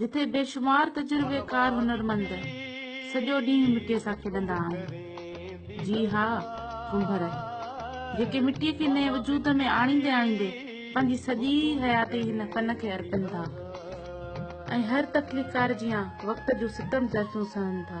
جتي بيشمار تجربيڪار هنرمند سڄو ڏينهن مٽيء سان کيڏندا آهن جي ها ڪنڀر جيڪي مٽيء کي نئين وجود ۾ آڻيندي آڻيندي پنهنجي سڄي حياتي هن فن کي ارپن ٿا ۽ هر تخليقڪار جيان وقت جون ستم ظرفيون سهن ٿا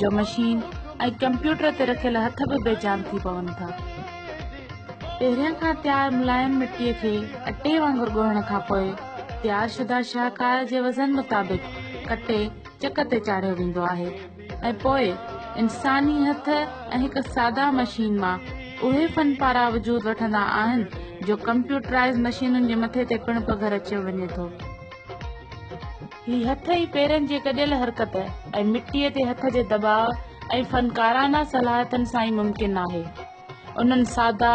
جو مشين ۽ ڪمپيوٽر تي رکيل هٿ به بي جان ٿي پون ٿا. پهريان کان تيار ملايم مٽيء کي اٽي وانگر ڳوهڻ کان پوء تيار شده شاهڪار جي وزن مطابق ڪٽي چڪ تي چاڙهيو ويندو آهي ۽ پوء انساني هٿ ۽ هڪ ساده مشين مان اهي فن پارا وجود وٺندا آهن جو ڪمپيوٽرائز مشينن جي مٿي تي پڻ پگهر اچيو وڃي ٿو. هي هٿ ۽ پيرن جي گڏيل حرڪت ۽ مٽيء تي هٿ جي دٻاء ۽ فنڪارانه صلاحيتن سان ئي ممڪن آهي. انهن سادا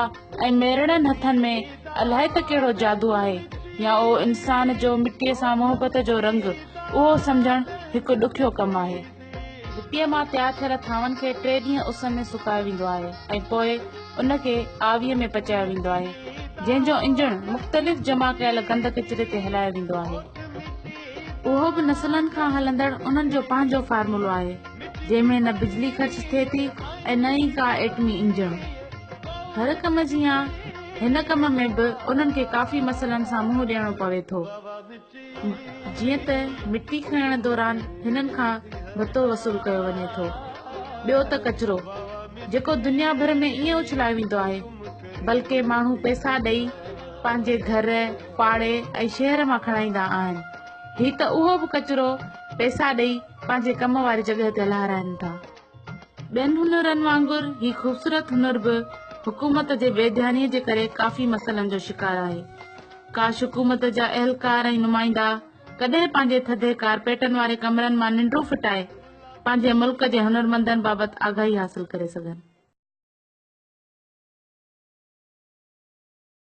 ۽ ميرڙن هٿن ۾ الائي ته ڪهڙو جادو آهي يا اهو انسان جو مٽيء سان محبت جو رنگ اهو سمجهڻ هڪ ڏکيو ڪم آهي. مٽيء مان تيار ٿيل ٿانون کي ٽي ڏينهن اس ۾ سڪايو ويندو آهي ۽ پوء ان کي آويء ۾ پچايو ويندو آهي جنهن جو انجڻ مختلف جمع ڪيل گند ڪچري تي هلايو ويندو آهي اهو به نسلن کان هلندڙ انهن جو پنهنجو فارمولو آهي جنهن ۾ نه بجلي خرچ ٿئي ٿي ۽ نه ئي ڪا ايٽمي انجڻ هر ڪم جيان هن ڪم ۾ به انهن کي ڪافي مسئلن سان منهن ڏيڻو پوي ٿو جيئن ته مٽي کڻڻ دوران هنن کان ڀتو وصول ڪيو وڃي ٿو ٻيو ته ڪچرو جيڪو دنيا ڀر ۾ ائين اڇلايو ويندو آهي بلڪه ماڻهو پئسا ڏئي پنهنجي گهر پاڙي ۽ شهر مان کڻائيندا آهن هي ته اهو به ڪچرو پئسا ڏئي پنهنجي ڪم واري جڳهه تي لهارائن ٿا ٻين هنرن وانگر هي خوبصورت هنر به حڪومت جي بي ڌياني جي ڪري ڪافي مسئلن جو شڪار آهي ڪاش حڪومت جا اهلڪار ۽ نمائندا ڪڏهن پنهنجي ٿڌي ڪارپيٽن واري ڪمرن مان ننڊون ڦٽائي پنهنجي ملڪ جي هنرمندن بابت آگاهي حاصل ڪري سگهن.